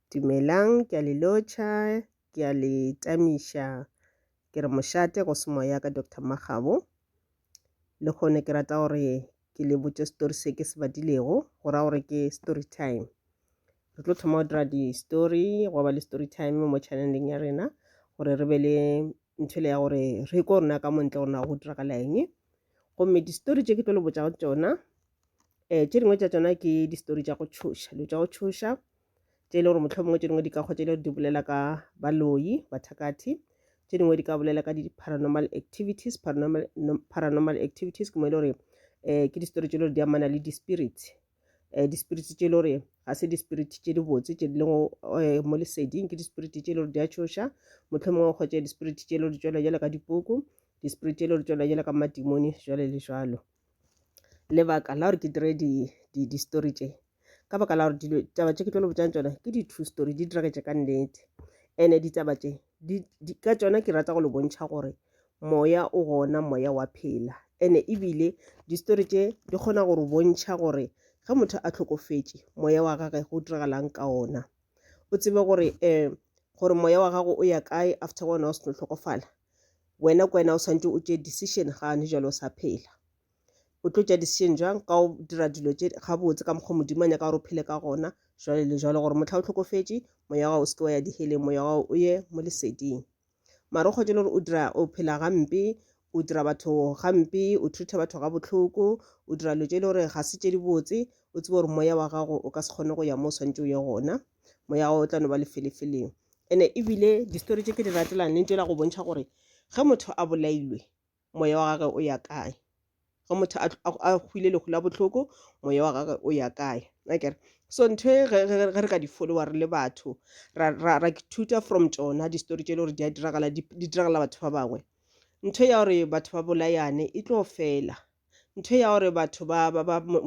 Dumelang, ke a le lotšha, ke a le tamiša. Ke re mošate go se moya ka Doctor Makgabo. Le kgone ke rata gore ke le botše story se ke se badilego, go ra gore ke story time. Re tlo thoma go dira di-story, gwa ba le story time mo channeleng ya rena gore re be le nthwele ya gore re ko rena ka montle gore na go diragala eng. gomme di-story tše ke tlo le botšago tšona um tše dingwe tša tšona ke di-story tša go tšhoša dilo tša go tšhoša tše e le gore motlho mongwe tše dingwe di ka kgwa tše e le gore di bolela ka baloyi bathakatthi tše dingwe di ka bolela ka di-paranormal activities paranormal, paranormal activities ke mo e le gore um ke di-story tše e le gore di amana le di-spirits um dispiriti tše e le gore ga se dispiriti tše dibotse tše di lego eh, mo leseding ke dispiriti tše e le gore di a tšhoša motlho mongwe o kgwetša dispiriti tše e le gore di tšwela jale ka dipuku dispiriti tše e le gore tšwela jale ka madimoni jale le jalo lebaka la gore ke dire di-story tše ka baka la gore taba tše ke tlo le botšang tsona ke di-two story di diragetše ka nnete and-e ditaba tše di, di, ka tšona ke rata go le bontšha gore moya o gona moya wa phela ene ebile distori tše di kgona gore bontšha gore ge motho a tlhokofetše moya wa gage go diragalang ka ona o tsebe gore um gore moya wa gago o ya kae after wena o seno tlhokofala wena ke wena o swantse o tše decision gane jalo o sa phela o tlo tšea decision jang ka o dira dilo tše gabotse ka mokgwa modimo a nyaka gore o phele ka gona jwale le jwale gore mohla o tlhokofetše moya wa gago o seke wa ya diheleng moya wa gago o ye mo leseding mara o kgotše le gore o dira o phela gampe o dira batho gampe o treata batho ga bohloko o dira dilo tše e le gore ga se tše dibotse o tsebe gore moya wa gago o ka se kgone go ya mo o swantse o ye gona moya wa gago o tla no ba lefelefeleng ene ebile distory tše ke di ratelang le ntšela go bontšha gore ge motho a bolailwe moya wa gagwe o ya kae ge motho a hwile lehu la bohloko moya wa gagwe o ya kae akere so ntho e ge re ka di follower le batho ra thuta from tsona di-story tse e le gore di a diragala di diragala batho ba bangwe ntho ya gore batho ba bolayane e tlo fela ntho ya gore batho ba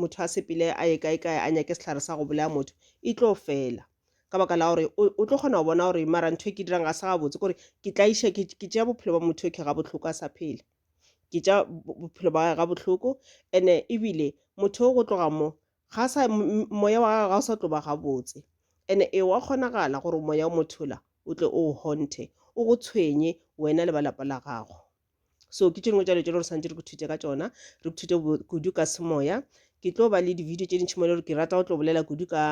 motho a sepele a ye kae kae a nyake sehlare sa go bolaya motho e tlo fela ka baka la gore o tlo kgona go bona gore mara ntho e ke dirang ga se gabotse kore ke tla iša ke tšea bophelo ba motho yoke ga bohloko a sa phela ke tša bophelo ba ga bohloko ene ebile motho o go tloga mo ga sa moya wa gagwe ga o sa tlo ba gabotse ene e wa kgonagala gore moya o mothola o tle o honthe o go tshwenye wena le ba lapa la gago so ke tše dingwe tša dilo tše le gore santse re kuthute ka tsona re kuthute kudu ka semoya ke tlo ba le di-video tše dintšhi mo le gore ke rata go tlo bolela kudu ka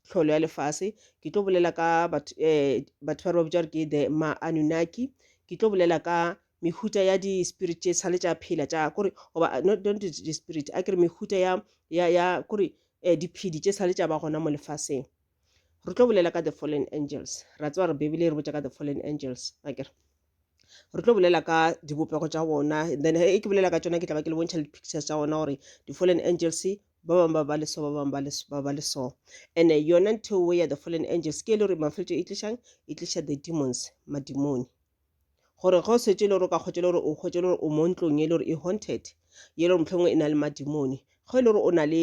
tlholo ya lefase ke tlo bolela ka batho eh, ba re ba bitša gore ke the ma-anunaki ke tlo bolela ka mehuta ya di-spirit tše sale tša phela tša kore goba uh, not, not di-spirit a kere mehuta ya, ya, ya kore eh, diphedi tše sale tša ba gona mo lefaseng re tlo bolela ka the fallen angels ra tseba re bebele e re botša ka the fallen angels akere re tlo bolela ka dibopego tša bona then e ke bolela ka tšona ke tla ba ke le bontšha le pictures tša gona gore di-fallen angels ba bangwe ba ba le so ba bangwe ba ba le so and yona ntho ya the fallen angels ke e le gore mafeletso e tlišang e tliša the demons madimoni gore ge o setse le gore o ka kgwetša le gore o kgwetša le gore o mo ntlong e le gore e haunted ye le gore mohlomongwe e na le madimone ge e le gore o na le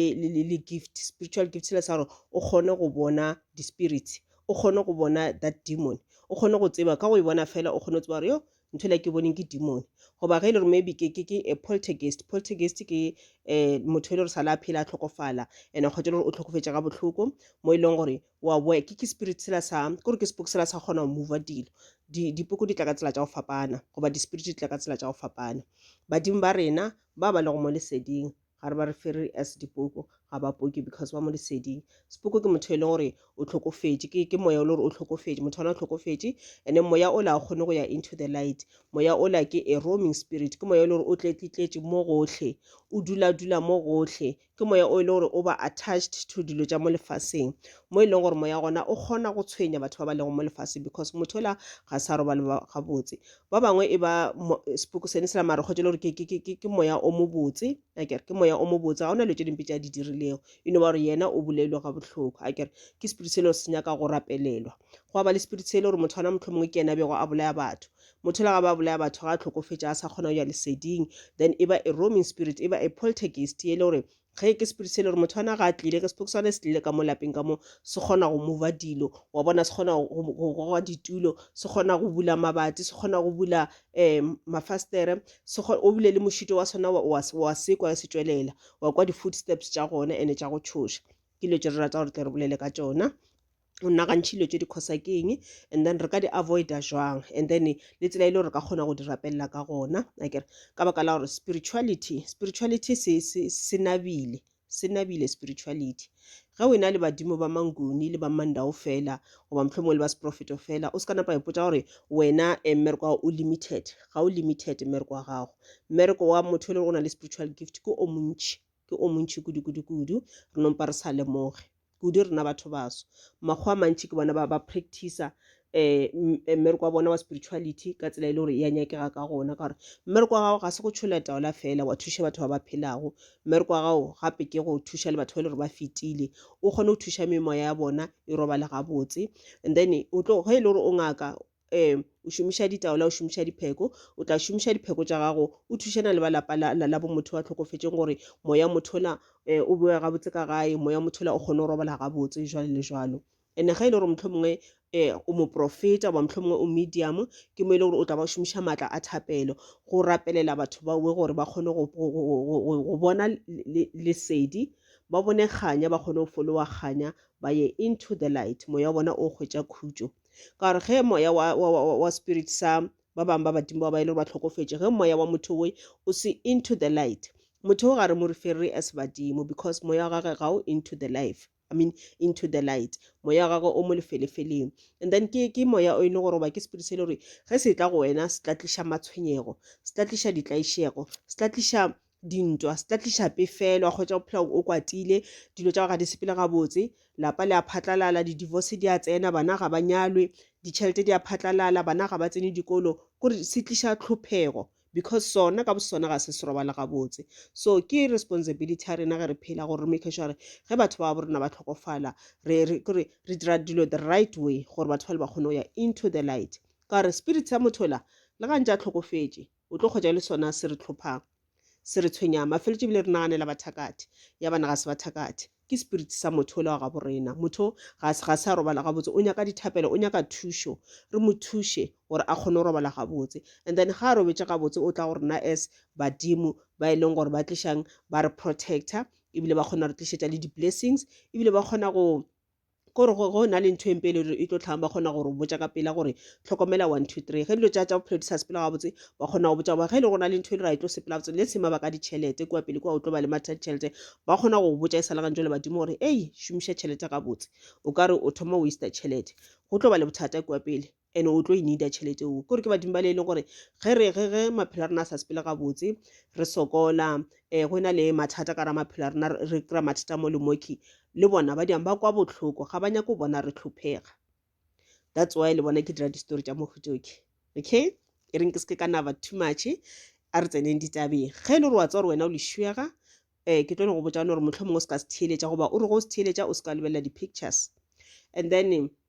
le gift spiritual gift sela sa gore o kgone go bona di-spirits o kgone go bona that demon o kgone go tseba ka go e bona fela o kgone go tseba gore yo ntho le ke boneng ke demon goba ge e le gore maybe ke ke ke a poltergeist poltergeist ke um motho e le gore sa le a phela a tlhokofala and a kgwetša le gore o tlhokofetša ga bohloko mo e leng gore wa boya ke ke spirit sela sa kore ke spoke sela sa kgona go mova dilo dipoko di tla ka tsela tša go fapana goba di-spirit di tla ka tsela tša go fapana badimo ba rena ba ba lego mo leseding ga re ba re fere as dipoko ga ba poke because ba mo leseding sepoko ke motho e leng gore o tlhokofetše ke, ke moya o le gore o tlhokofetše motho ona o tlhokofetše and then moya o la kgone go ya into the light moya o la ke a roaming spirit ke moya o le gore o tletlitletše mo gotlhe o dula dula mo gotlhe ke moya o e le gore o ba attached to dilo tša mo lefaseng mo e leng gore moya gona o kgona go tshwenya batho ba ba lego mo lefaseng because motho la ga sa robale gabotse ba bangwe e ba sepoko sene se la mare kgotse le gore ke moya o mobotse akere ke moya o mobotse ga o na dilo tše dimpe tša di dirilego e no ba gore yena o bolelwe ga bohloko akere ke spirit se le gore se nyaka go rapelelwa go ba le spirit se le gore motho ana motlho mongwe ke yena bego a bolaya batho Motho ela ga ba bolaya batho ga a tlhokofetša a sa kgona go ya leseding then e ba a roaming spirit e ba a poltergeist ye e le gore ge ke spirit se e le gore motho ana ga a tlile ke sepoko sane se tlile ka mo lapeng ka mo se kgona go mova dilo wa bona se kgona go goga ditulo se kgona go bula mabati se kgona go bula um mafastere o bile le mošito wa sona wa sekwa se tšwelela wa kwa di-footsteps tša gona and-e tša go tšhoša ke dilo tše re rata gore tle re bolele ka tšona o nagantšhe dilo tše di causa ke eng and then re ka di avoida jwang and then le tsela e le gore ka kgona go di rapelela ka gona akere ka baka la gore spirituality spirituality se, se, se nabile se nabile spirituality ge o ena le badimo ba manguni le ba mandao fela goba mohlho mongwe le ba seprofeto fela o se ka napa ipotsa gore wena um mmereko wa o limited ga o limited mmereko wa gago mmereko wa motho e le go na le spiritual gift ke o montšhi ke o montši kudu-kudu-kudu, re no mpa re sa lemoge. Kudu rena batho baso. Makgowa a mantši ke bona ba ba practicer um mmereko wa bona wa spirituality ka tsela e le gore ya nyakega ka gona, ka gore mmereko wa gago ga se go tšhola taola fela wa thuša batho ba ba phelago. Mmereko wa gago gape ke go thuša le batho ba e le gore ba fetile, o kgone go thuša memoya ya bona e robale gabotse. And then o tlo ge e le gore o ngaka, um o šomiša ditaola o šomiša dipheko o tla šomiša dipheko tša gago o thušana le ba lapa la, la, la bomotho wa tlhokofetseng gore moya mothola um o boe gabotse ka gae moya mothola o kgone go robala gabotse jwale le jwalo ene ga e le gore motlho mongwe um o moprofeta goba motlho mongwe o medium ke mo e le gore o tla ba o šomiša maatla a thapelo go rapelela batho baoe gore ba kgone go, go, go, go, go, go bona lesedi le, le ba bone kganya ba kgone go folowa kganya ba ye into the light moya wa bona o hwetša khutšo ka gore ge moya wa, wa, wa, wa spirit sa ba bangwe ba badimo ba ba e le gore ba tlhokofetše ge moya wa motho we o se into the light motho o ga re mo referre as badimo because moya wa gage ga o into the life I mean into the light moya wa gagwe o mo lefelefeleng and then ke ke moya o e le gore ba ke spirit se e le gore ge se tla go wena se tla tliša matshwenyego se tla tliša ditlaišego se tla tliša dintwa se tla tliša pefelo wa kgwetsa o phela o kwatile dilo tša go ga di sepele gabotse lapa le a phatlalala di-divorce di a tsena bana ga ba nyalwe ditšhelete di a phatlalala bana ga ba tsene dikolo kore se tliša tlhophego because sona ka bosona ga se se robala gabotse so ke responsibility ya rena ge re phela gore re make sure gore ge batho ba bo rena ba tlhokofala kore re dira dilo the right way gore batho ba le ba kgone go ya into the light ka gore spirit sa motho la le gantse a tlhokofetše O tlo hwetša e le sona se re tlhophago, se re tshwenyago. Mafeletšo ebile re naganela bathakathi, ya bana ga se bathakathi. Ke spirit sa motho o le wa gabo rena. Motho ga, ga se a robala gabotse, o nyaka dithapelo, o nyaka thušo. Re mo thuše gore a kgone go robala gabotse. And then ga a robetše gabotse, o tla go rena as badimo ba e leng gore ba tlišang, ba re protector, ebile ba kgona go re tlišetša le di-blessings, ebile ba kgona go, gore go go na le ntho empe e le e tlo tlhang ba kgona gore botsa ka pela gore tlhokomela one two three ge dilo tsa tsa bophelo di sa sepela gabotse ba kgona go botsa ba ge e le go na le ntho e le ra e tlo sepela gabotse le sema ba ka ditšhelete kua pele kua o tlo ba le matha ditšhelete ba kgona go botsa e sa le gantso le badimo gore ei šomiša tšhelete gabotse o ka re o thoma waster tšhelete go tlo ba le bothata kua pele and o tlo e needa tšhelete o kore ke badimo bale e leng gore ge re ge ge maphelo a rena a sa sepele gabotse re sokola um go na le mathata ka ra maphelo a rena re kry-a mathata mo le moki le bona ba diang ba kwa botlhoko ga ba nyake go bona re tlhophega that's why le bona ke dira di-story tša mohutoke okay e reng ke se ke ka naba too much a re tseneng ditabeng ge e le gore wa tsa gore wena o lešuega um ke tlo go botsa gore motlho mongwe o se ka se theeletša goba o re go se theeletša o se ka lebelela di-pictures and then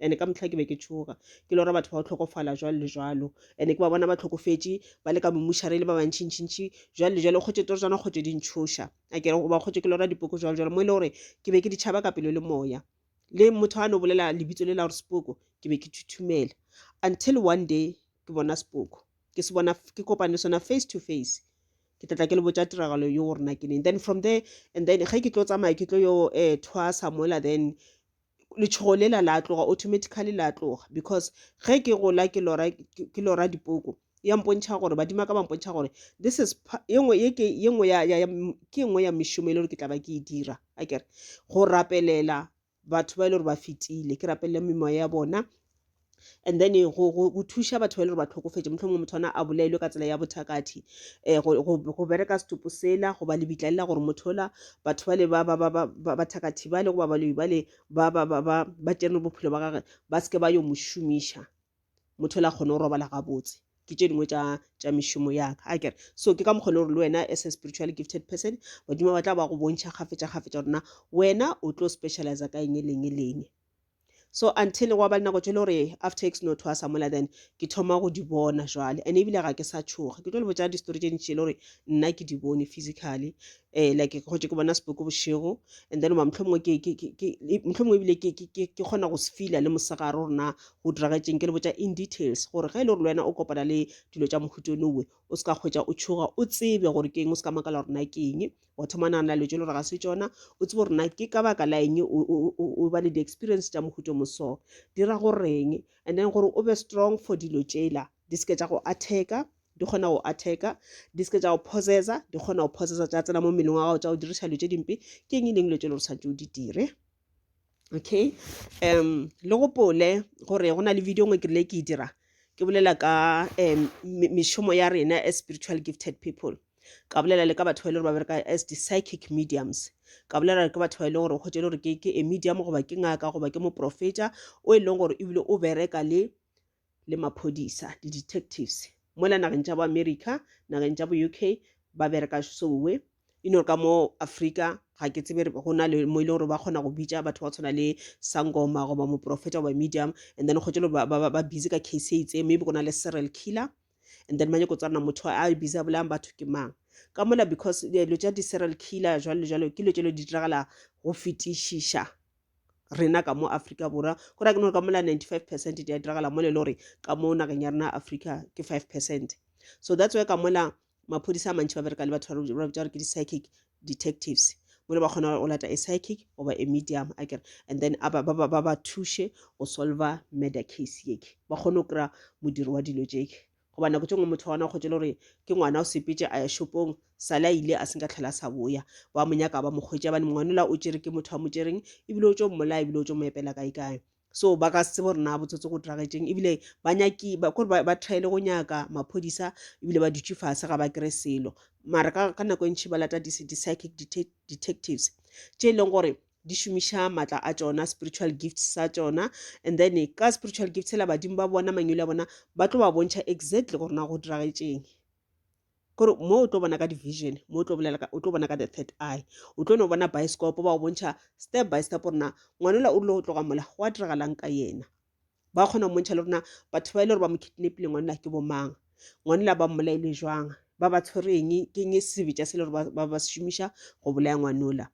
ande ka motlha ke be ke tšhoga ke lora batho ba go tlhokofala jwalo le jwalo ande ke ba bona ba tlhokofetše ba le ka momušare le ba bantšhintšhintšhi jwalo le jwalo kgotše toro tswana kgotše di ntšhoša a kere goba kgotše ke lora dipoko jwalo jwalo mo e le gore ke be ke di tšhaba ka pelo le moya le motho a no bolela lebitso le la gore sepoko ke be ke thuthumela until one day ke bona sepoko ke se bona ke kopane sona face to face ke tlatla ke le botša tiragalo yo gore na ke neng then from there and then ge ke tlo tsamaya ke tlo yo um thwasa mola then letšhogo lela la tloga automatically la tloga because ge ke gola ke lora ke lora dipoko ya mpontšha gore badima ka ba mpontšha gore this is yengwe ye ke yengwe ya ya ke yengwe ya mešomo e le gore ke tla ba ke e dira a kere go rapelela batho ba e le gore ba fetile ke rapelela memoya ya bona and then eh, go, go, go thuša batho ba e le gore ba tlhokofetše motlho mongwe motho ona a bolaelwe ka tsela ya bothakathi um go, go, go bereka setopo sela goba lebitla lela gore motho ola batho bale ba, ba, ba, ba, ba, bathakathi bale goba baloyi bale ba, ba, ba, ba, ba tšere bophelo ba gage ba seke ba yo mo šomiša motho ola kgone go robala gabotse ke tše dingwe tša mešomo yaka a kere so ke ka mokgone gore le wena as a spiritual gifted person badimo ba tla ba go bontšha kgafetša kgafetša gorena wena o tlo specialize ka eng e leng e leng So until gwa ba le nako tše le gore after ke seno thwasa mola then ke thoma go di bona jwale and ebile ga ke sa tšhoga ke tlo le botša di-story tše ntši le gore nna ke di bone physically um like ke gotše ke bona sepoko bošego and then oba mohlomongwe mohlomongwe ebile ke kgona go se feela le mosegare gore na go diragetšeng ke le botša in details gore ge e le gore le wena o kopana le dilo tša mohuto nowe o se ka kgwetša o tšhoga o tsebe gore ke eng o se ka makala gore na ke eng wa thoma nagana dilo tšelo gore ga se tšona o tsebe gore na ke ka baka la eng o ba le di-experience tša mohuto moso dira goreng and then gore o be strong for dilo tšela di seke tša go attacker di kgona go attacker di seke tša go possessa di kgona go possessa tša tsena mo mmeleng wa gago tša go diriša dilo tše dimpe ke eng e leng dilo tšelo gore tshwanetse o di dire okay um le gopole gore go na le video ngwe ke rile ke e dira ke bolela ka um mešomo ya rena as spiritual gifted people ka bolela le ka batho ba e le gore ba bereka as di-psychic mediums ka bolela le ka batho ba e leng gore o kgwetse le gore ke a medium goba ke ngaka goba ke moprofeta o e leng gore ebile o bereka le le maphodisa, di-detectives, mola nageng tša bo America, nageng tša bo UK, ba bereka sowe. You know, ka mo Afrika, ga ke tsebe go na le mo e leng gore ba kgona go bitša batho ba tshwana le sangoma goba moprofeta goba medium and then kgotse ba, ba, ba busy ka case e itseng maybe go na le serial killer and then ba nyako tswana motho a busy a bolayang batho ke mang ka mola because dilo tša di-serial killer jalo le jalo ke dilo tšelo di diragala go fetišiša rena ka mo Afrika Borwa go ra ke no ka mola 95 percent di a diragala mo le lore ka mo nageng ya rena Afrika ke 5 percent so that's why ka mola maphodisa a mantši ba bereka le batho ba bitša gore ke di-psychic detectives mo le ba kgona go lata a psychic goba a medium a kere and then ba ba thuše go solver murder case yeke ba kgone go kry-a modiro wa dilo jeke goba nako tše ngwe motho wa ona kgotše le gore ke ngwana o sepetše a ya shopong sale a ile a se nka tlhela sa boya ba mo nyaka ba mo kgwetša bane mongwanola o tšere ke motho a mo tšereng ebile o tšo mmolaya ebile o tšo mo epela kae kae so ba ka se tsebo rena botsotsi go diragetšeng ebile ba nyaki kore ba thaele go nyaka maphodisa ebile ba dutše fase ga ba kry selo mara ka nako e ntšhi ba lata di-psychic detectives tše e leng gore di šomiša maatla a tšona spiritual gifts sa tšona and then ka spiritual gifts la badimo ba bona mangwele a bona ba tlo ba bontšha exactly gore na go diragetšeng kore mo o tlo bona ka division mo o tlo bolela o tlo bona ka the third eye o tlo no bona bioscope ba go bontšha step by step gore na ngwanela o rile go tloga mola go a diragalang ka yena ba kgona go bontšha le rona batho ba e le gore ba mo kidnapile ngwanela ke bomang ngwanela ba mmolaile jwang ba ba tshwereng ke eng sebetša se le gore ba ba šomiša go bolaya ngwanola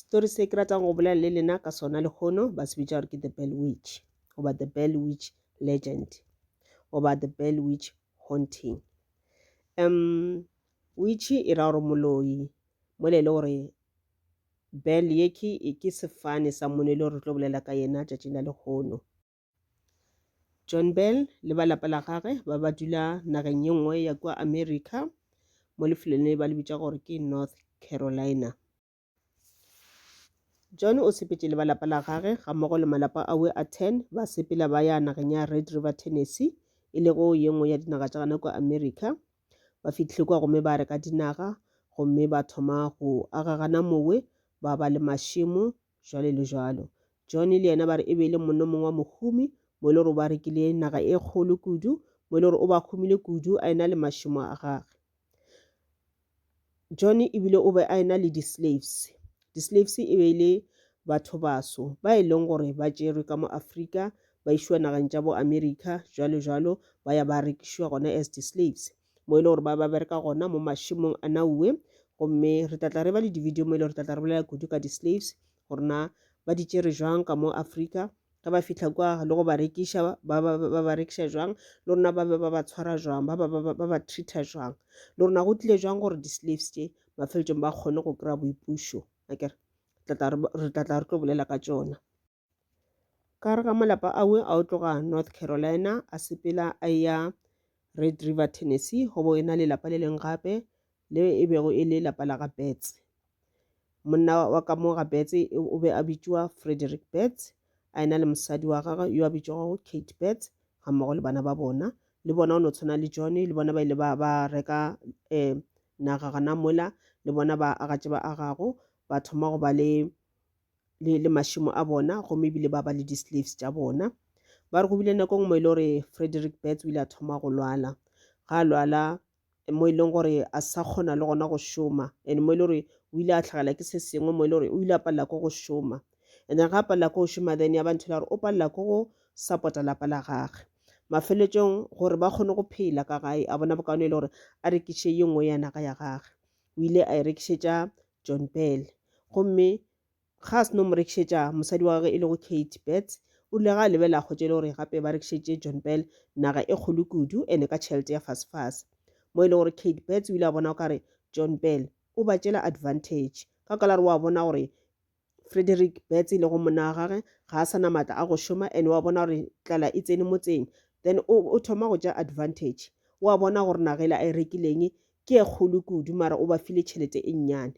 story se ke ratang go bolela le lena ka sona lehono ba se bitša gore ke the bell witch goba the bell witch legend goba the bell witch haunting um witch e ra gore moloi mole e le gore bell ye ke sefane sa mone e le gore re tlo bolela ka yena tšatšing la lehono John Bell le ba lapa la gagwe ba ba dula nageng ye nngwe ya kwa America mo lefelong le ba le bitša gore ke North Carolina. John o sepetše le ba lapa la gagwe ga mmogo le malapa awe a 10 ba sepela ba ya nageng ya Red River, Tennessee e lego ye nngwe ya dinaga tša gana kwa America. Ba fihlile kwa gomme ba reka dinaga gomme ba thoma go agagana mowe ba ba le mašemo jwalo le jwalo. John le yena ba re e be e le monno mongwe wa mohumi mo e le gore ba rekile naga e kgolo kudu mo e le gore o ba humile kudu a ena le mašemo a gage john ebile o be a ena le di-slaves di-slaves e be e le batho baso ba e leng gore ba tšerwe ka mo afrika ba išwa nageng tša bo america jalo jalo ba ya ba rekišwa gona as di-slaves mo e le gore ba ba bereka gona mo mašemong a naue gomme re tlatla re ba le di-video mo e le gore tlatla re bolela kudu ka di-slaves gore na ba di tšere jwang ka mo africa ge ba fitlha kwa le go ba rekiša ba ba rekiša jwang le rona ba be ba ba tshwara jwang ba ba treater jwang le rona go tlile jwang gore di-slaves tše mafeletsong ba kgone go kry-a boipušo akere re tlatla re tlo bolela ka tšona Ka gare ga malapa awe a o tloga North Carolina a sepela a ya Red River, Tennessee, go bo e na lelapa le leng gape le e bego e le lapa la ga Betts. Monna wa ka mo ga Betts o be a bitšwa Frederick Betts, a ena le mosadi wa gagwe yo a bitšwago Kate Betts ga mmogo le bana ba bona. Le bona o no tshwana le John le bona ba ile ba ba reka um naga gana mola le bona ba aga tše ba agago ba thoma go ba le le, le mašemo a bona gomme ebile ba ba le di-slaves tša bona ba re go bile nako ngwe e le gore frederick bats o ile a thoma go lwala ga a lwala mo e leng gore a sa kgona le gona go šoma and mo e le gore o ile a tlhagela ke se sengwe mo e le gore o ile a palela ko go šoma and then ga a palela ko go šoma then ya ba ntho la gore o palela ko go support-a lapa la gage mafeletsong gore ba kgone go phela ka gae a bona bokaone e le gore a rekiše ye nngwe ya naga ya gage o ile a e rekišetša John Peele gomme ga a seno mo rekišetša mosadi wa gage e lego Kate Betts o rile ga a lebelela kgotša e le gore gape ba rekišetše John Peele naga e kgolo kudu ene ka tšhelete ya fasefase mo e le gore Kate Betts o ile a bona o kare John Peele o ba tšela advantage ka kwala re wa bona gore Frederick Betts e lego monna wa gage ga a sana maatla a go šoma and wa bona gore tlala e tsene motseng then o thoma go ja advantage wa bona gore nagela a e rekileng ke e kgolo kudu mara o ba file tšhelete e nnyane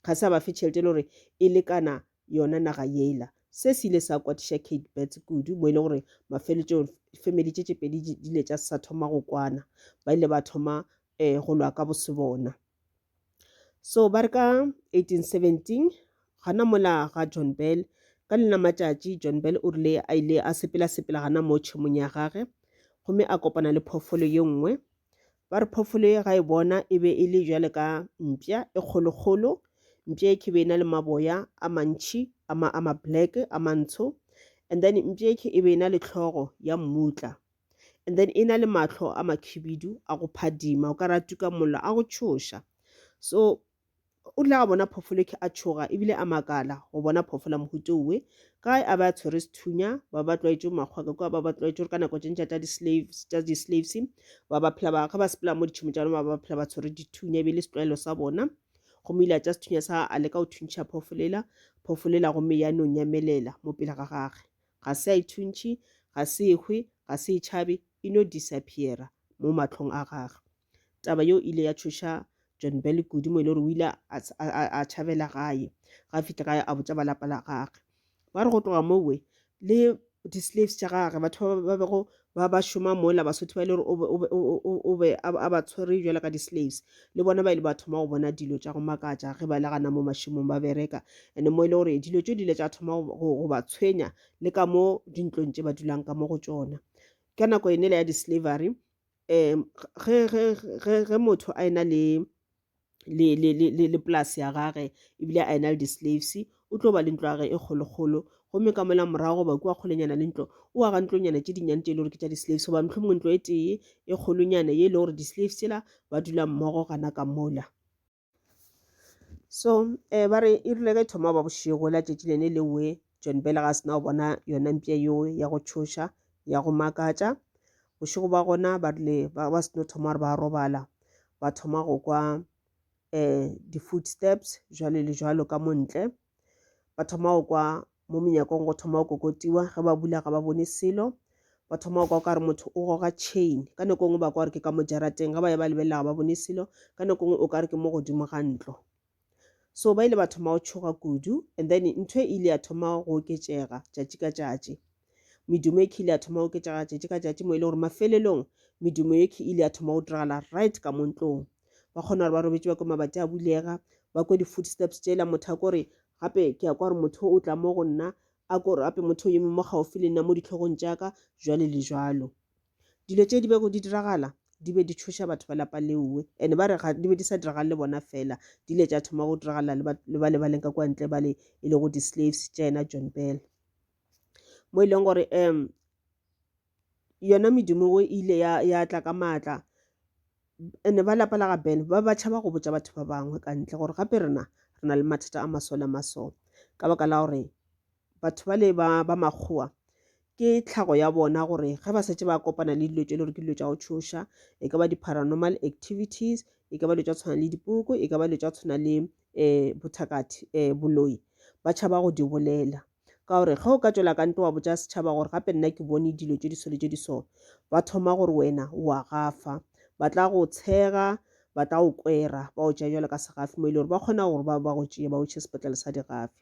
ga se a ba fe tšhelete e le gore e lekana yona naga yela se se ile sa kwatiša kate bets kudu mo e le gore mafeletso family tše tše pedi di ile tša sa thoma go kwana ba ile ba thoma um go lwa ka bose bona so ba re ka 1817 gana mola ga john bell ka lena matšatši john bell o rile a ile a sepela-sepela gana mo tšhemong ya gage gomme a kopana le phoofolo ye nngwe ba re phoofolo ye ga e bona e be e le jale ka mpša e kgolokgolo mpša e ke be e na le maboya a mantšhi a ma-black a mantsho and then mpša e ke e be e na le tlhogo ya mmutla and then e na le mahlo a makhibidu a go phadima o ka re a tuka mollo a go tšhoša so o tla bona phoofolo ke a tšhoga ebile a makala go bona phoofola mohuto we ka a ba tshwere sethunya ba ba tlwaetše makgwaka kwa ba ba tlwaetše gore ka nako tše ntša tša di-slaves tša di-slaves ba ba phela ba ga ba sepela mo ditšhomo tša bona ba ba phela ba tshwere dithunya e be le setlwaelo sa bona gomme ile a tša sethunya sa a leka go thuntšha phoofolela phoofolela gomme ya nong ya melela mo pele ga gage ga se a ithuntšhi, ga se ehwe, ga se itšhabe, e no disappeara mo mahlong a gagwe. Taba yeo e ile ya tšhoša John Bell kudu, mo e le gore o ile a, a, a, a tšhabela gae. Ga a fihle gae, a botša ba lapa la gagwe. Ba re go tloga mowe, le di-slaves tša gagwe, batho ba ba bego ba ba šoma mola basotho ba e le gore o be a ba tshwere jalo ka di-slaves le bona ba ile ba thoma go bona dilo tša go makatša ge ba le gana mo mašemong ba bereka and mo e le gore dilo tšo di ile tša thoma go ba tshwenya le ka mo dintlong tše ba dulang ka mo go tšona ka nako e nele ya di-slavery um ge motho a ena le le, le, le, le, le polase ya gage ebile a ena le di-slaves o tlo ba le ntlo ya gage e kgolokgolo gomme ka mola morago goba kua kgolenyana le ntlo o aga ntlonyana tše dinnyane tše e le gore ke tša di-slaves goba mohlho mongwe ntlo e tee e kgolonyana ye e le gore di-slaves tsela ba dula mmogo gana ka mola so um ba re e rile ka e thoma ba bošego la tšatši lene le we John Bele ga sena go bona yona mpša yeo ya go tšhoša ya go makatša bošego ba gona ba rile ba ba seno thoma gore ba robala ba thoma go kwa um di-food steps jwale le jwalo ka montle ba thoma go kwa mo menyakong go thoma go kokotiwa ge ba bula ga ba bone selo ba thoma go kwa o ka re motho o goga chain ka nako e nngwe ba kwa gore ke ka mo jarateng ge ba ye ba lebelela ga ba bone selo ka nako e nngwe o ka re ke mo godimo ga ntlo so ba ile ba thoma go tšhoga kudu and then ntho e ile ya thoma go oketšega tšatši ka tšatši medumo e ile ya thoma go oketšega tšatši ka tšatši mo e le gore mafelelong medumo e ile ya thoma go diragala right ka mo ntlong ba kgona gore ba robetše ba kwe mabati a bulega ba kwe di-footsteps tšela motho a kore gape ke ya kwa gore motho o tla mo go nna a kore gape motho o yeme mo gaufi le nna mo ditlhogong tša ka jwale le jwalo Dilo tše di bego di diragala di be di tšhoša batho ba lapa leowe and ba re di be di sa diragale le bona fela, di ile tša thoma go diragala le ba le ba leng ka kwa ntle ba le e lego di-slaves tša yena John Bell mo e leng gore um yona medimo e ile ya ya tla ka maatla ene ba lapa la ga ben ba ba tšhaba go botša batho ba bangwe ka ntle gore gape rena re na le mathata a masole a masole ka baka la gore batho ba le ba ba makgowa ke tlhago ya bona gore ge ba setse ba kopana le dilo tse e le gore ke dilo tša go tshoša e ka ba di-paranormal activities e ka ba dilo tša tshwana le dipoko e ka ba dilo tša tshwana le um eh, bothakathi um eh, boloi ba tšhaba go di bolela ka gore ge o ka tswela ka nto wa botsa setšhaba gore gape nna ke bone dilo tše di sole tše di so ba thoma gore wena wa gafa ba tla go tshega ba tla go kwera ba o tšea jalo ka segafi mo e le gore ba kgona gore ba ba go tšee ba o tšhe sepetlele sa digafi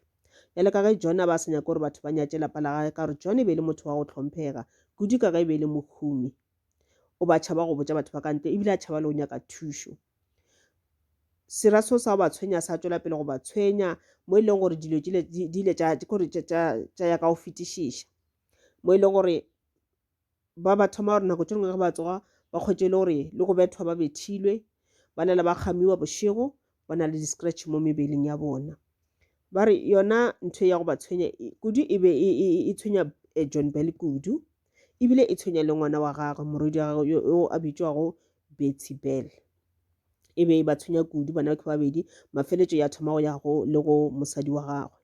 Bjale ka ge John a ba a sa nyake gore batho ba nyatše lapa la gage ka gore John e be e le motho wa go hlomphega, kudu ka ge e be e le mohumi, o ba tšhaba go botša batho ba ka ntle ebile a tšhaba le go nyaka thušo. Sera seo sa go ba tshwenya sa tšwela pele go ba tshwenya mo e leng gore dilo di ile tša ya ka go fetišiša mo e leng gore ba ba thoma gore nako tše dingwe ge ba tsoga ba kgwetše e le gore le go bethwa ba bethilwe ba na le ba kgamiwa bošego ba na le di-scratch mo mebeleng ya bona ba re yona ntho ya go ba tshwenya kudu e be e, e, e, e tshwenya eh, john bell kudu ebile e tshwenya le ngwana wa gagwe morwedi wa gagwe yo a bitšwago betty bell e be e ba tshwenya kudu bana ba babedi mafeletšo ya thoma go ya go le go mosadi wa gagwe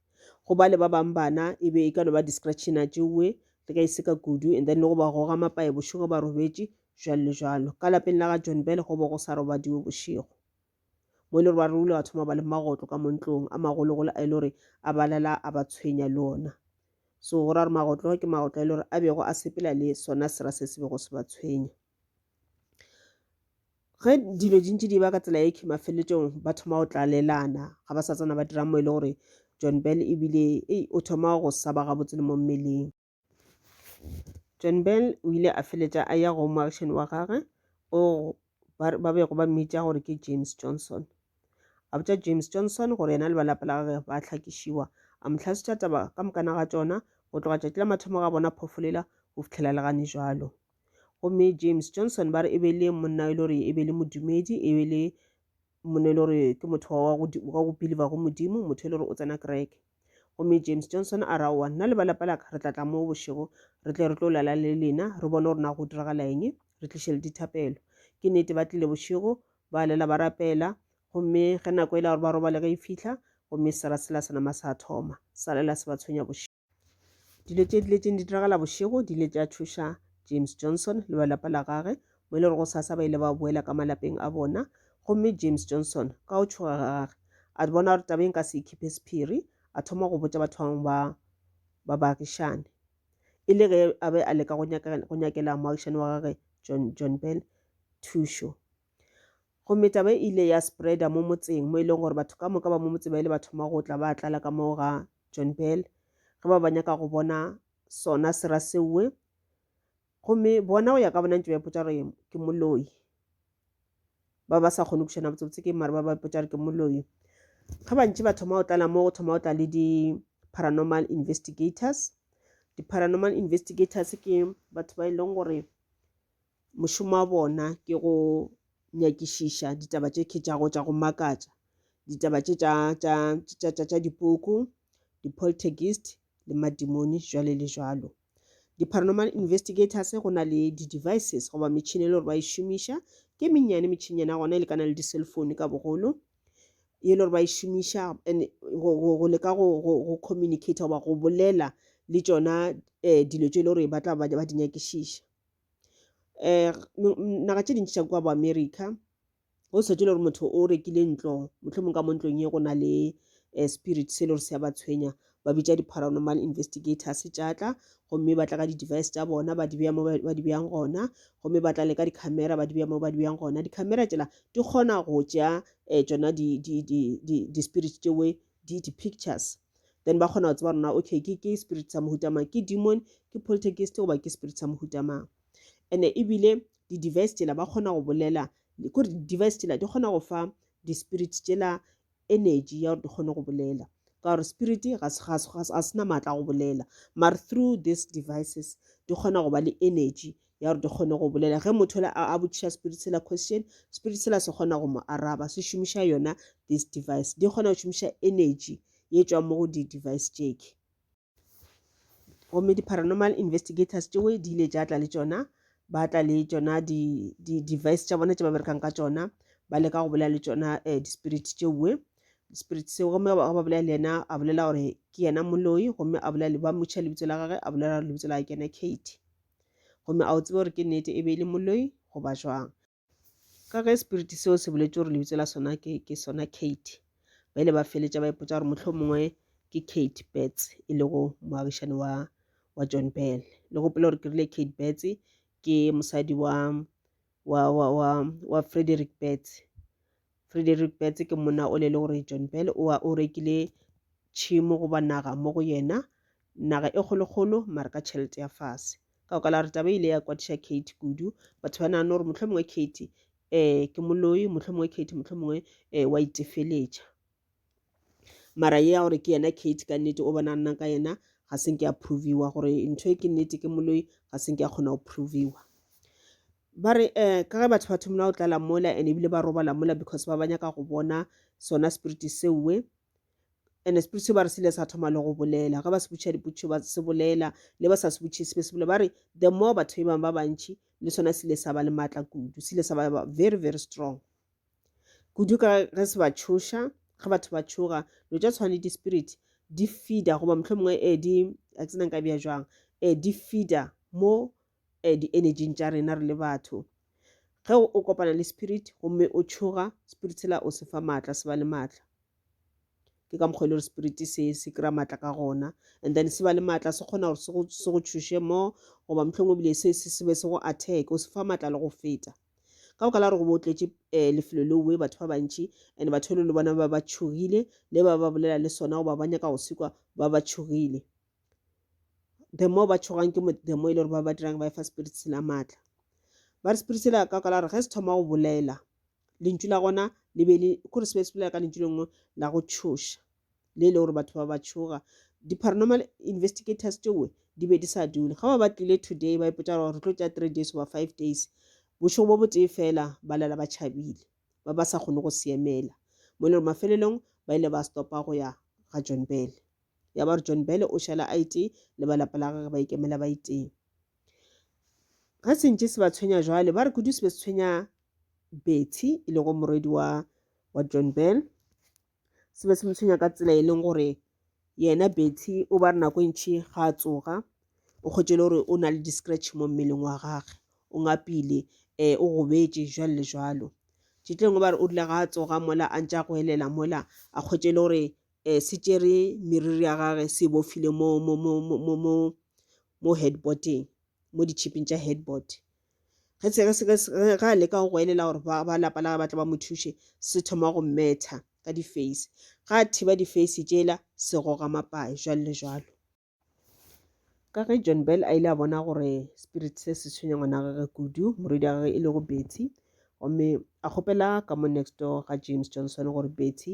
go ba le ba bangwe bana e be e ka no ba distraction a tšeoe le ka e seka kudu and then le go ba goga mapae bošego ba robetše jalo le jalo ka lapeng la ga john bell go bo go sa robadiwe bošego mo e le gore ba rule wa thoma ba le magotlo ka montlong a magologolo a e le gore a balala a ba tshwenya le ona so go ra gore magotlo ke magotlo a e le gore a bego a sepela le sona sera se se bego se ba tshwenya Ge dilo di ntše di ba ka tsela e ke mafelelong ba thoma go tlalelana ga ba sa tsena ba dira mo e le gore John Bell ebile o thoma go sa ba gabotse le mo mmeleng. John Bell o ile a feletša a ya go moagišani wa gagwe o ba bego ba mmitša gore ke James Johnson a botša James Johnson gore yena le ba lapa la gagwe ba hlakišiwa a mo tlhasitša taba ka mokana ga tšona go tloga tšatši la mathomo ga bona phofolela go fitlhela le gane jalo. gomme james johnson ba re e be le monna e le gore e be le modumedi e be le monna e le gore ke motho wa go beliva go modimo motho e le gore o tsena kereke gomme james johnson a ra wa nna le balapa laka re tlatla mo bošego re tle re tlo lala le lena re bone gore na go diragala eng re tliše le dithapelo ke nnete ba tlile bošego ba lela ba rapela gomme ge nako e la gore ba robale ge e fitlha gomme sera sela senama sa thoma sa lela se ba tshwenya bošego dilo tše di letseng di diragala bošego di ile tša thuša james johnson le ba lapa la gage mo e le gore go sasa ba ile ba boela ka malapeng a bona gomme james johnson ka go tšhoga ga gage a bona gore tabeng ka se ikhipe sephiri a thoma go botša batho bangwe ba ba baagišane e le ge a be a leka go nyakela moagišane wa gage john john bell thušo gomme taba e ile ya spreada mo motseng mo e leng gore batho ka moka ba mo motseng ba ile ba thoma go tla ba tlala ka moo ga john bell ge ba ba nyaka go bona sona sera seowe gomme bona go ya ka bona ntse ba ipotsa gore ke moloi ba ba sa kgone go bušana botsebotse ke mare ba ba ipotsa gore ke moloi ge bantši ba thoma go tlala mo go thoma go tla le di-paranormal investigators di-paranormal investigators ke batho ba e leng gore mošomo wa bona ke go nyakišiša ditaba tše khetšago tša go makatša ditaba tše tša dipuku di-poltergeist le madimoni jwale le jwalo di-paranormal investigators go na le di-devices goba metšhini e le gore ba e šomiša ke mennyane metšhinyana gona e lekana le di-cell phone ka bogolo e le gore ba e šomiša and go leka go communicate goba go bolela le tšona um dilo tše e le gore ba tla ba di nyakišiša. um naga tše dintši tša kwa bo America go sa tšwela gore motho o rekile ntlo mohlomongwe ka mo ntlong ye go na le um spirit se e le gore se a ba tshwenya ba bitša di-paranormal investigators tša tla gomme ba tla ka di-device tša bona ba di beya mo ba di beyang gona gomme ba tla le ka di-camera ba di beya mo ba di beyang gona di-camera tšela di kgona go tšea um tšona di-spirit tšewe di di pictures then ba kgona go tseba rona okay ke ke spirit sa mohuta mang ke demon ke poltergeist goba ke spirit sa mohuta mang and ebile di-device tšela ba kgona go bolela kore di-device tšela di kgona go fa di-spirit tšela energy ya gore di kgone go bolela ka gore spirit ga se na maatla go bolela mare through these devices di kgona go ba le energy ya gore di kgone go bolela ge motho la a botšiša spirit sela question spirit sela se kgona go mo araba se šomiša yona this device di kgona go šomiša energy ye tšwang mo go di-device tšeke gomme di-paranormal investigators tšeo di ile tša tla le tšona ba tla le tšona di-device tša bona tše ba berekang ka tšona ba leka go bolela le tšona um di-spirit tšeoe spirit seo gomme ga ba bolela le yena a bolela gore ke yena moloi gomme a bolela ba motšha lebitso la gage a bolela gore lebitso la gage ke yena kate Gomme a o tsebe gore ke nnete e be e le moloi goba jwang? Ka ge spiriti seo se boletše gore lebitso la sona ke, ke sona Kate, ba ile ba feletša ba ipotša gore mohlho mongwe ke Kate Betts e lego moagišani wa, wa John Bell. Le gopele gore ke rile Kate Betts ke mosadi wa, wa wa wa wa Frederick Betts Frederick Betts ke monna o le le gore John Bell o o rekile tšhimo goba naga mo go yena naga e kgolokgolo mara ka tšhelete ya fase ka go kala re taba ile ya kwatiša Kate kudu batho ba nagana gore motlho mongwe Kate um ke moloi motlho mongwe Kate motlho mongwe um wa itefeletša mara ye ya gore ke yena kate ka nnete o bona nna ka yena ga se nke a proviwa gore ntho e ke nnete ke moloi ga se nke a kgona go proviwa ba re um ka ge batho ba thomela go tlala mola and ebile ba robala mola because ba ba nyaka go bona sona spirit seoe and spirit se ba re sele sa thoma le go bolela ga ba se butšha diputšho ba se bolela le ba sa se butšhe se be se bolela ba re the more batho ba bangwe ba bantšhi le sona sele sa ba le maatla kudu sele sa ba very very strong kudu ka ge se ba tšhoša ge batho ba tšhoga dilo tša tshwane di-spirit di feeda goba motlho mongwe e eh, di a ke senang ka bja jwang e eh, di feeda mo e eh, di-energing tša rena re le batho ge o kopana le spirit gomme o tšhoga spirit sela o se fa maatla se ba le maatla ke ka mokgwa e le gore spirit se se kry-a maatla ka gona and then se ba le maatla se kgona gore se go tšhoše mo goba motlhong o bile se se be se go attack o se fa maatla le go feta ka boka la gore go bo tletše um eh, lefelo leowe batho ba bantši and batho le le bona ba ba tšhogile le ba ba bolela le sona goba ba nyaka go sekwa ba ba tšhogile the more ba tšhogang ke the more e le gore ba ba dirang ba efa spirit se la maatla ba re spirit se la ka ka la gore ge se thoma go bolela lentšu la gona le be le kore se be se bolela ka lentšu le nngwe la go tšhoša le e le gore batho ba ba tšhoga di-paranormal investigators tšewe di be di sa dule ga ba ba tlile today ba ipotsa gore re tlo tša three days goba five days bošego bo botee fela ba lela ba tšhabile ba ba sa kgone go siemela mo e le gore mafelelong ba ile ba stopa go ya ga john bele ya ba re john bele o šala a itee le ba lapa la gage ba ikemela ba itee ga sentše se ba tshwenya jwale ba re kudu se be se tshwenya bethy e lego morwedi wa wa john bell se be se mo tshwenya ka tsela e leng gore yena betty o ba re nako e ntšhi ga a tsoga o kgwetše le gore o na le di-scratch mo mmeleng wa gage o ngapile um o gobetše jalo le jalo tšetlengwe ba re o rile ga a tsoga mola a ntša go elela mola a kgwetše le gore um se tšere meriri ya gage se bofile mo headboardeng mo ditšhiping tša headboard ge ge a leka go go elela gore ba lapa la ba tla ba mo thuše se thoma go metha ka di-face ga a thiba di-face tšela se goga mapae jwalo le jwalo ka ge john bell a ile a bona gore spirit se se tshwenya ngwana gage kudu morwedi a gage e lego betty gomme a kgopela ka mo next door ga james johnson gore betty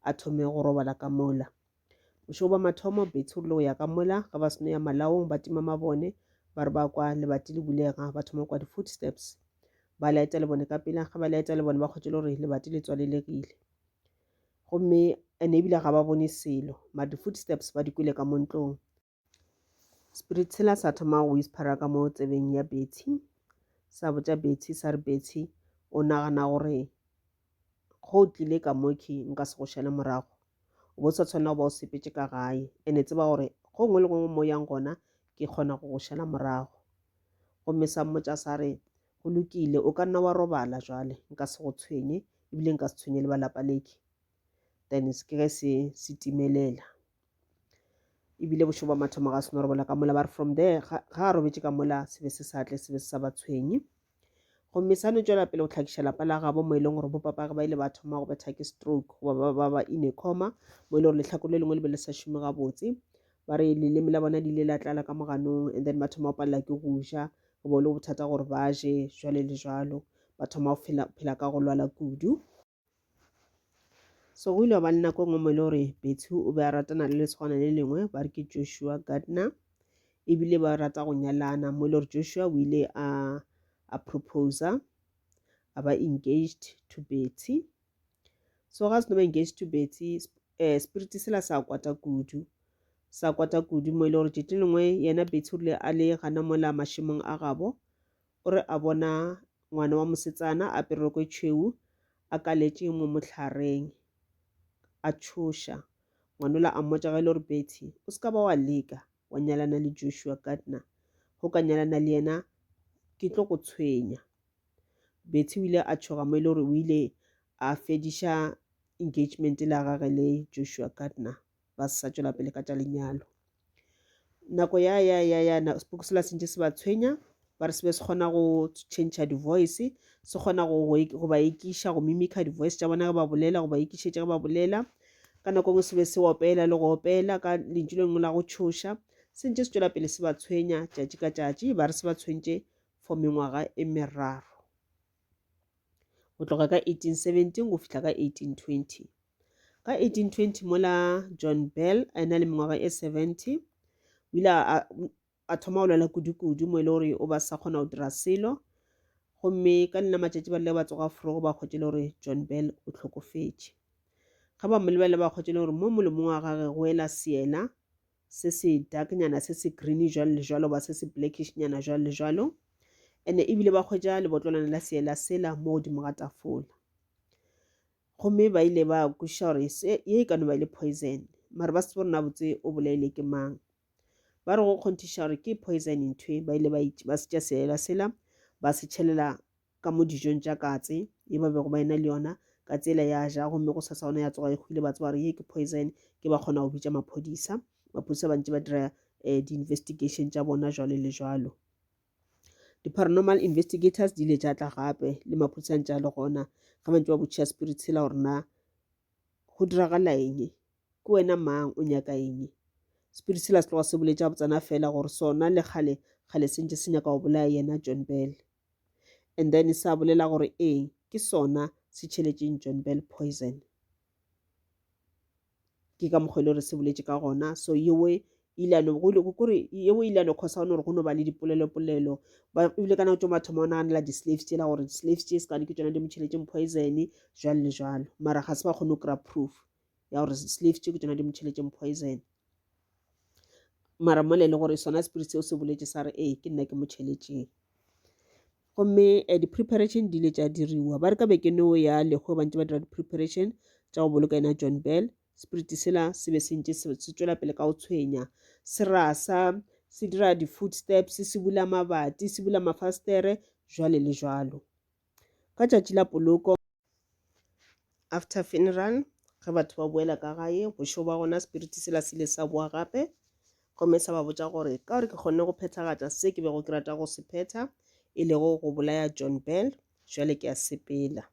a thome go robala ka mola Bošego bwa mathomo, Betsi o rile go ya ka mola ge ba seno ya malaong ba tima mabone ba re ba kwa lebati le bulega ba thoma kwa di-footsteps. Ba laeta lebone ka pela ge ba laeta lebone ba kgwetše le gore lebati le tswalelegile. Gomme ene ebile ga ba bone selo mare di-footsteps ba di kwele ka mo ntlong. Spirit sela sa thoma go whispera ka mo tsebeng ya Betty sa botša Betty sa re Betty o nagana gore go tlile ka moki nka se go šale morago o bo sa tshwanela go ba o sepetse ka gae ene tseba gore go ngwe le gongwe mo yang gona ke kgona go go šala morago gomme sa mmotša sa re go lokile o ka nna wa robala jwale nka se go tshwenye ebile nka se tshwenye le ba lapa leke then se ke ge se se timelela ebile bošego ba mathomo ga se no robola ka mola ba re from there ga a robetše ka mola se be se sa tle se be se sa ba tshwenye gomme sa no tšwela pele go tlhakiša lapa la gabo mo e leng gore bopapage ba ile ba thoma go betha ke stroke goba ba ba ba in a coma mo e le gore letlhako le lengwe le be le sa šome gabotse ba re leleme la bona le ile la tlala ka moganong and then ba thoma go palela ke go ja go bo le bothata gore ba je jwale le jalo ba thoma go phela ka go lwala kudu so go ile ba nna ko ngwe mo e le gore bethu o be a ratana le letshwana le lengwe ba re ke joshua gardner ebile ba rata go nyalana mo e le gore joshua o ile a a proposa a ba engaged to betty so ga se no ba engaged to betty um spirit sela sa kwata kudu sa kwata kudu mo e le gore tšatši lengwe yena betty o rile a le gana mola mašemong a gabo o re a bona ngwana wa mosetsana a apere roko e tšhweu a kaletše mo mohlhareng a tšhoša. Ngwanola a mmotša ge e le gore Betty, o se ka ba wa leka wa nyalana le Joshua Gardner. Go ka nyalana le yena ke tlo go tshwenya. Betty o ile a tšhoga mo e le gore o ile a fediša engagement la gage le Joshua Gardner. ba se sa tšwela pele ka tša lenyalo nako ya ya ya ya seboku se la sentše se ba tshwenya ba re se be se kgona go change di-voice se kgona go ba ekiša go mimica di-voice tša bona ge ba bolela go ba ekišetša ge ba bolela ka nako ngwe se be se opela le go opela ka lentšu le lengwe la go tšhoša se ntše se tšwela pele se ba tshwenya tšatši ka tšatši ba re se ba tshwentše for mengwaga e meraro go tloga ka 1817 go fihla ka 1820 ka 1820 mola john bell a ena le mengwaga e 70 o ile a thoma go lwela kudu-kudu mo e le gore o ba sa kgona go dira selo gomme ka lena matšatši ba rile ba tsoga forogo ba kgotse le gore john bell o tlhokofetše ga ba mo lebelela ba kgotse le gore mo molomong wa gage go ela seela se se dark nyana se se green jwalo le jwalo ba se se blackish nyana jwalo le jwalo ene ebile ba hwetša lebotlolwane la seela sela mo godimo ga tafola gomme ba ile ba kwešiša gore ye e ka no ba e le poison mare ba se tsebo rona botse o bolaile ke mang ba re go kgonthiša gore ke poison nthwe ba ile ba se tša seela sela ba se tšhelela ka mo dijong tša katse ye ba bego ba ena le yona ka tsela ya ja gomme go sasa ona ya tsoga e hwile ba tseba gore ye ke poison ke ba kgona go bitša maphodisa maphodisa ba ntse ba dira um di-investigation tša bona jwalo le jwalo di-paranormal investigators di ile tša tla gape le maphodisang tša le gona ge ba ntse ba botšha spirit sela gore na go diragala eng ke wena mang o nyaka eng spirit sela se tloga se boletša botsana fela gore sona le kgale kgale se ntse se nyaka go bolaya yena john bell and then sa bolela gore ee ke sona se tšheletšeng John Bell poison ke ka mokgwa e le gore se boletše ka gona so yewe ilano kore yewe ilano cause ga o ne gore go no ba le dipolelopolelo ebile ka nako tso mathomo o naganela di-slaves tsela gore di-slaves tse se kane ke tsona di motšheletšeng poison jalo le jalo mara ga se ba kgone go kry-a proof ya gore slave tše ke tsona di mo tšheletšeng poison mara mole e le gore sona spirit seo se boletse sa re ee ke nna ke mo tšheletšeng gomme eh, di-preparation di ile tša diriwa ba re ka beke neo ya lekgo bantse ba dira di-preparation tša go boloka ena john bell spirit sela se be se ntse se tswela pele ka go tshwenya se rasa se dira di-food steps se bula mabati se bula mafastere jwale le jwalo Ka tšatši la poloko after funeral ge batho ba boela ka gae bošego ba gona spirit sela se ile sa boa gape gomme sa ba botša gore ka gore ke kgonne go phethagatša se ke bego ke rata go se phetha e lego go bolaya John Bell jwale ke a sepela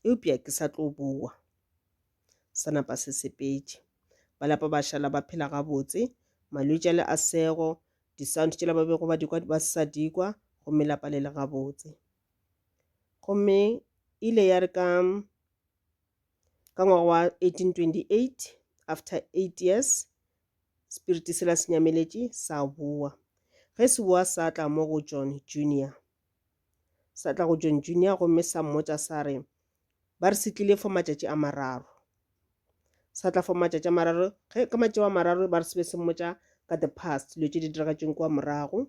eupša ke sa tlo boa sa napa se sepetše ba lapa ba šala ba phela gabotse malwetšale a sego Di-sound tšela ba bego ba dikwa ba se sa dikwa gomme la palela gabotse. Gomme ile ya re ka ka ngwaga wa 1828 after eight years spiriti sela se nyameletše sa boa ge se boa sa tla mo go john junior sa tla go john junior gomme sa mmotša sa re Ba re se tlile for matšatši a mararo. Sa tla for matšatši a mararo, ge ka matšatši a mararo ba re se be se mmotša ka the past, dilo tše di diragatšeng kua morago.